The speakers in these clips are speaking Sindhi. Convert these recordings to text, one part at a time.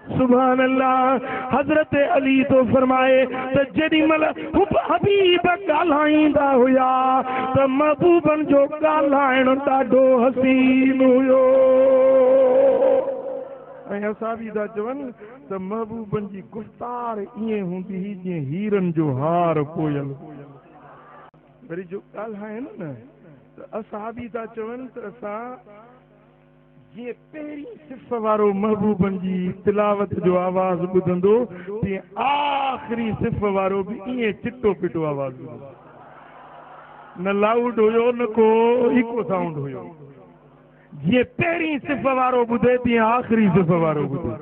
سبحان الله حضرت علي ٿو فرمائي ته جيڏي مھل حب حبيب ڳالھائيندا ھيا ته محبوبن جو ڳالھائڻ ڏاڍو حسين ھيو ۽ اسان به ٿا چون ته محبوبن جي گفتار ائين ھوندي ھئي جيئن ھيرن جو ھار پويل وري جو ڳالھائين نه ته اسان به ٿا چون ته اسان جيئن پهرين صف وارو محبوبن جي تلاوت جو آواز ٻڌندو، تيئن آخري صف وارو به ائين چٽو پٽو آواز ٻڌندو. نه لائوڊ هيو نه ڪو ايڪو سائونڊ هيو. جيئن پهرين صف وارو ٻڌي تيئن آخري صف وارو ٻڌي.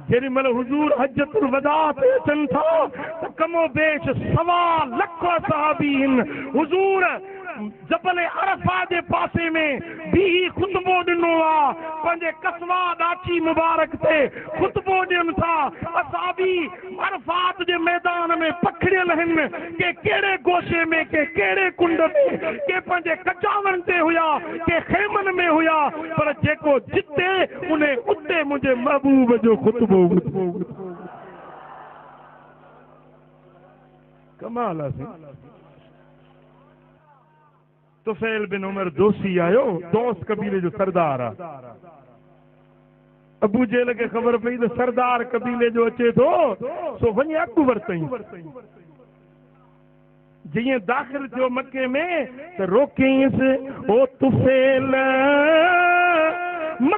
جيڏي مھل حضور حجة الوداع تي اچن ٿا ته ڪم و بيش سوا لک صحابي ھن حضور جبل عرفة جي پاسي ۾ بيھي خطبو ڏنو آ پنھنجي قصويٰ ڏاچي مبارڪ تي خطبو ڏين ٿا اصحابي عرفات جي ميدان ۾ پکڙيل آهن، ڪي ڪهڙي گوشي ۾، ڪي ڪهڙي ڪنڊ ۾، ڪي پنهنجي ڪچاون تي هيا، ڪي خيمن ۾ هيا، پر جيڪو جتي انهي اتي منهنجي محبوب جو خطبو ٻڌو. ڪمال آ سائين. طفيل بن عمر دوسي آيو، دوس قبيلي جو سردار آ. ابو جهل کي خبر پئي ته سردار قبيلي جو اچي ٿو، سو وڃي اڳ ورتئين. جيئن داخل ٿيو مڪي ۾ ته روڪينس، او طفيل!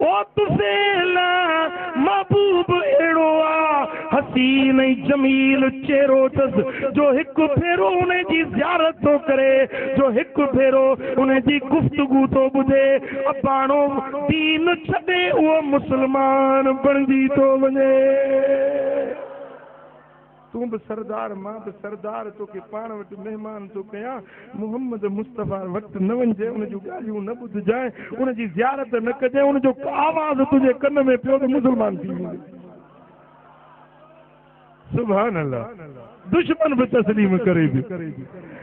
او طفيل! محبوب اهڙو آ، حسين ۽ جميل چهرو اٿس، جو هڪ ڀيرو ان جي زيارت ٿو ڪري، جو هڪ ڀيرو ان جي گفتگو ٿو ٻڌي، اباڻو دين ڇڏي اهو مسلمان بڻجي ٿو وڃي. تون به سردار مان به سردار توکي پاڻ وٽ مهمان ٿو ڪيان محمد مصطفيٰ وٽ نه وڃجي ان جون ڳالهيون نه ٻڌجانء ان جي زيارت نه ڪجي ان جو آواز تنهنجي ڪن ۾ پيو ته مسلمان ٿي ويندين سبحان الله دشمن به تسليم ڪري به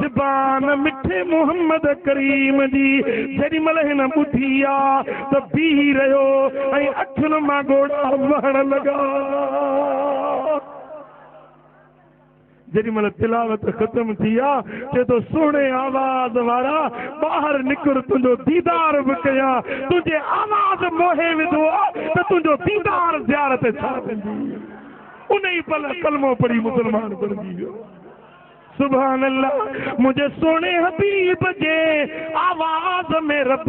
زبان مٺي محمد ڪريم جي جيڏي مھل ھن ٻڌي آ ته بيھي رھيو ۽ اکين مان ڳوڙھا وھڻ لڳا. جيڏي مھل تلاوت ختم ٿي آ چئي ٿو سهڻي آواز وارا ٻاھر نڪر تنھنجو ديدار به ڪيان تنھنجي آواز موھي وڌو آ ته تنھنجو ديدار زيارت ڇا ٿيندي. انھي پل ڪلمو پڙھي مسلمان بڻجي ويو. سبحان الله منهنجي سهڻي حبيب جي آواز ۾ رب